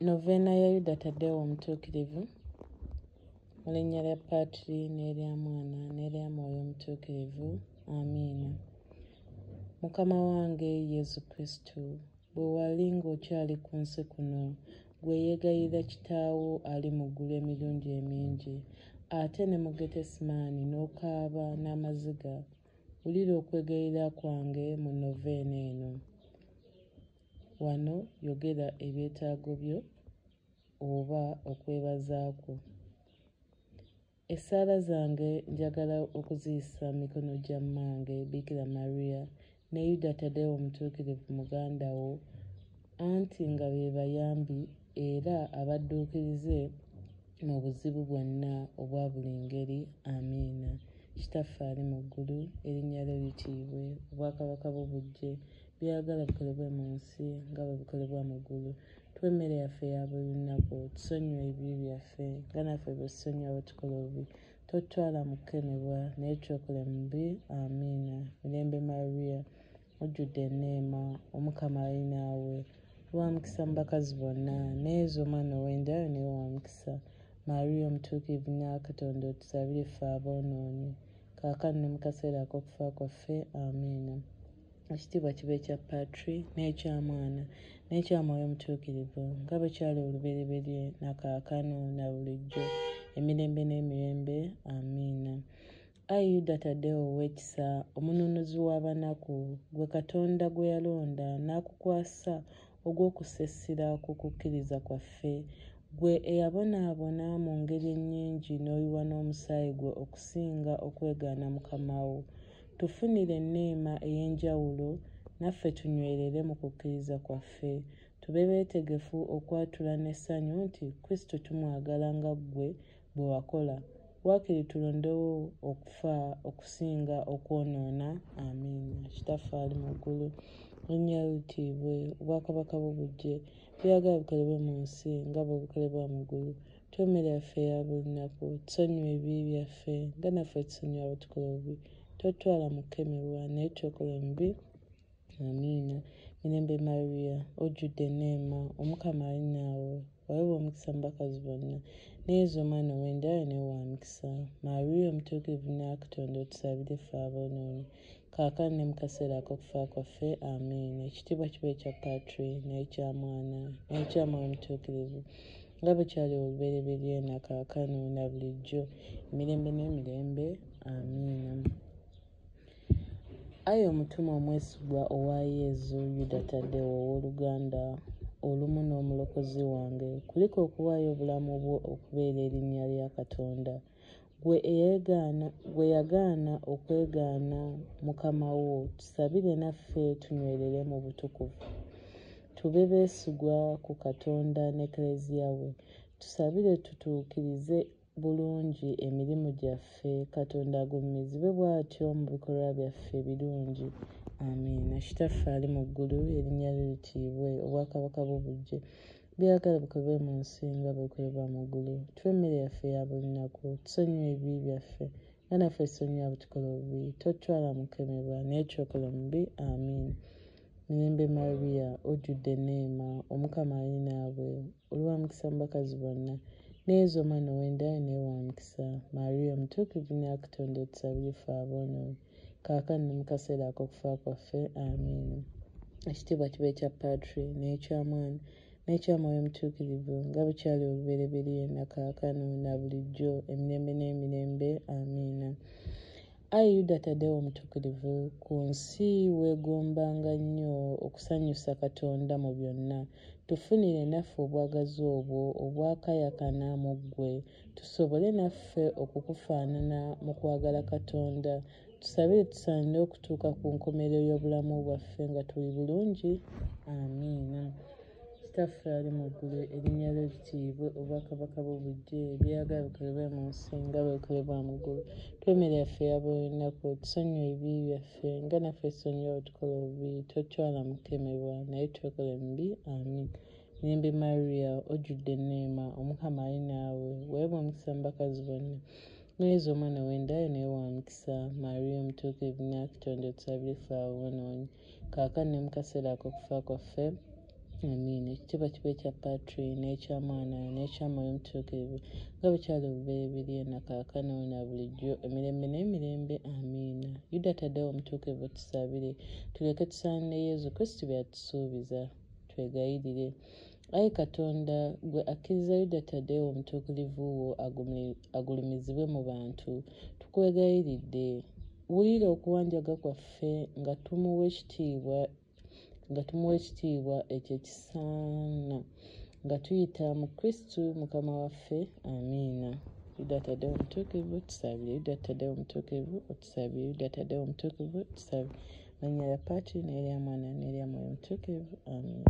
Noveena ya Yuda Tadeo Omutuukirivu mu linnya lya Patri n'erya Mwana n'erya Mwoyo Omutuukirivu. Amiina. Mukama wange Yesu Kristo, bwe wali ng'okyali ku nsi kuno, gwe yeegayirira Kitaawo ali mu ggulu emirundi emingi, ate ne mu Getesemaani n'okaaba n'amaziga, wulira okwegayirira kwange mu noveena eno. Wano yogera ebyetaago byo oba okwebaza kwo. Essaala zange njagala okuziyisa mu mikono gya mmange Bikira Maria ne Yuda Tadeo Omutuukirivu muganda wo, anti nga be bayambi era abadduukirize mu buzibu bwonna obwa buli ngeri. Amiina. Kitaffe ali mu ggulu, erinnya lyo litiibwe, obwakabaka bwo bujje, by'oyagala bikolebwe mu nsi nga bwe bikolebwa mu ggulu. Tuwe emmere yaffe eya buli lunaku, tusonyiwe ebibi byaffe nga naffe bwe tusonyiwa abatukola obubi, totutwala mu kukemebwa, naye tucokole mu bibi. Amiina. Mirembe Maria. mujjudde eneema omukama ali naawe wamukisa mu bakazi bonna naye eza omwana ow'endayo naye wamukisa maria omutuukirivu nyakatonda otusabire ffe aboonoonyi kaakano ne mu kaseera ak'okufa kwaffe amiina ekitiibwa kiba ekya patri n'ekya mwana n'ekya mwoyo omutuukirivu nga bwe kyali olubereberye na kaakano na bulijjo emirembe n'emirembe amiina Ayi Yuda Tadeo ow'ekisa, omununuzi w'abanaku, gwe Katonda gwe yalonda n'akukwasa ogw'okussa essira ku kukkiriza kwaffe, gwe eyabonaabona mu ngeri ennyingi n'oyiwa n'omusaayi gwe okusinga okwegaana mukama wo, tufunire enneema ey'enjawulo naffe tunywerere mu kukkiriza kwaffe, tube beetegefu okwatula n'essanyu nti Kristo tumwagala nga ggwe bwe wakola. Waakiri tulondewo okufa okusinga okwonoona. Amiina. Kitaffe ali mu ggulu, erinnya lyo litiibwe, obwakabaka bwo bujje, by'oyagala bikolebwe mu nsi nga bwe bikolebwa mu ggulu. Tuwe emmere yaffe eya buli lunaku. Tusonyiwe ebibi byaffe nga naffe tusonyiwa abatukola obubi. Totutwala mu kukemebwa, naye tulokola omubi. Amiina. Mirembe Maria, ojjudde enneema, Omukama ali naawe. Waweebwa omukisa mu bakazi bonna, ne Yezu omwana ow'endayo naye wa mukisa. Maria omutuukirivu Nnakatonda, otusabire ffe aboonoonyi, kaakano ne mu kaseera ak'okufa kwaffe. Amiina. Ekitiibwa kiba ekya Patri, n'ekya Mwana, n'ekya Mwoyo Mutuukirivu, nga bwe kyali olubereberye, na kaakano, na bulijjo, emirembe n'emirembe. Amiina. Ayi omutume omwesigwa owa Yezu Yuda Tadeo ow'oluganda, olumu n'omulokozi wange, kulika okuwaayo obulamu bwo okubeera erinnya lya Katonda, gwe eyegaana gwe yagaana okwegaana mukama wo, tusabire naffe tunywerere mu butukuvu, tube beesigwa ku Katonda n'Ekleziya we, tusabire tutuukirize bulungi emirimu gyaffe katonda agulumizibwe bw'atyo mu bikolwa byaffe ebirungi amiina kitaffe ali mu ggulu erinnya lyo litiibwe obwakabaka bwo bujje byagala bukobe mu nsi nga bwekolebwa mu ggulu tuwe emmere yaffe ya buli nnaku tusonyiwa ebibi byaffe nga naffe tusonyiwa butukola obubi totutwala mukemebwa naye kyokola omubi amiina Mirembe Maria ojjudde enneema, Omukama ali naawe, oli wa mukisa mu bakazi bonna, ne Yezu omwana ow'endaayo naye wa mukisa. Maria omutuukirivu nnyo Katonda otusabire ffe aboonoonyi, kaakano ne mu kaseera ak'okufa kwaffe. Amiina. Ekitiibwa kibe ekya Patri n'ekya Mwana n'ekya Mwoyo Mutuukirivu, nga bwe kyali olubereberye, na kaakano, na bulijjo, emirembe n'emirembe. Amiina. Ayi Yuda Tadeo Omutuukirivu, ku nsi weegombanga nnyo okusanyusa Katonda mu byonna. Tufunire naffe obwagazi obwo obwakayakana mu ggwe, tusobole naffe okukufaanana mu kwagala Katonda. Tusabire tusaanire okutuuka ku nkomerero y'obulamu bwaffe nga tuli bulungi. Amiina. Kitaffe ali mu ggulu, erinnya lyo litiibwe, obwakabaka bwo bujje, ebyoyagala bikolebwe mu nsi nga bwe bikolebwa mu ggulu. Tuwa emmere yaffe eya buli lunaku, otusonyiwe ebibi byaffe nga naffe tusonyiwa abatukola obubi, totutwala mu kukemebwa, naye tulokole mu bibi. Amin. Mirembe Mariya, ojjudde enneema, Omukama ali naawe, weebwa omukisa mu bakazi bonna, ne Yezu omwana w'enda yo naye wa mukisa. Mariya omutuukirivu, Nnyina wa Kitonde, otusabire ffe aboonoonyi. kaakano ne mu kaseera ak'okufa kwaffe amiina ekitiibwa kiba ekya patri n'ekya mwana n'ekya mwoyo omutuukirivu nga bwe kyali obubereberye na kaakano na bulijjo emirembe n'emirembe amiina yuda taddewo omutuukirivu tusabire tulyoke tusaanire yezu kristu by'atusuubiza twegayirire Ayi Katonda, gwe akkiriza Yuda Tadeo omutuukirivu wo agulumizibwe mu bantu, tukwegayiridde, wulira okuwanjaga kwaffe nga tumuwa ekitiibwa nga tumuwa ekitiibwa ekyo ekisaana nga tuyita mu kristu mukama waffe amiina yuda tadeo omutuukirivu tusabire yuda tadeo omutuukirivu otusabire yuda tadeo omutuukirivu tusabire manya ya paati n'erya mwana n'erya mwoyo omutuukirivu amiina